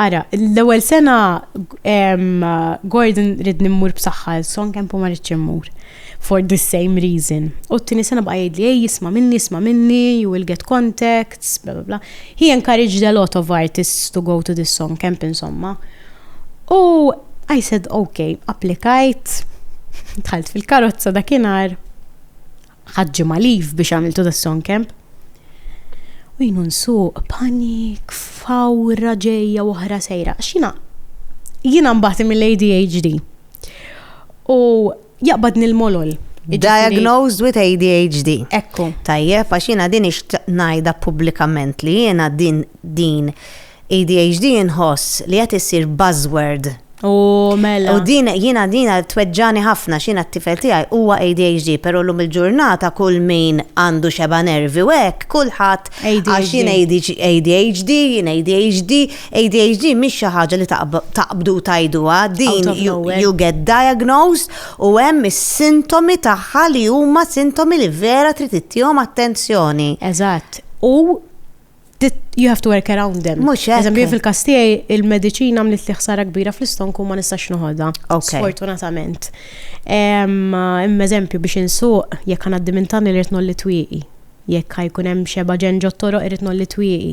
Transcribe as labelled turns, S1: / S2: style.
S1: Ara, l-ewwel sena Gordon rid nimmur b'saħħa son kemm ma rridx immur. For the same reason. U t-tieni sena bqa' jgħidli, ej jisma' minni, jisma' minni, you will get contacts, bla bla bla. He encouraged a lot of artists to go to this song camp insomma. U I said ok, applikajt, dħalt fil-karozza dakinhar, Ħadt ġimgħa leave biex għamiltu da song camp. U jienu nsuq panik, fawra ġejja u oħra sejra. Xina, jiena mbagħad mill-ADHD. U jaqbadni l-molol. Jiġifieri- Diagnosed with ADHD. Ekku. Tajjeb, għax jiena din ix ngħidha pubblikament li jiena din din ADHD inħoss li qed issir buzzword. U mela. U din jiena jiena tweġġagħni ħafna għax jiena t-tifel tiegħi huwa ADHD, però llum il-ġurnata kull min għandu xebgħa nervi u hekk, kulħadd għax jien ADHD, jien ADHD, ADHD mhix xi ħaġa li taqbdu u tgħiduha, din you get diagnosed u hemm is-sintomi tagħha li huma sintomi li vera trid ittihom attenzjoni. Eżatt. U you have to work around them. Mux hekk. Eżempju, fil-kas tiegħi il-mediċina għamlet li ħsara kbira fl-istonku ma nistax noħodha. Sfortunatament. Imma eżempju biex insuq jekk għaddi minn tani li rtnol li twieqi. Jekk ħajkun hemm xeba ġen ġottoro irtnol li twieqi.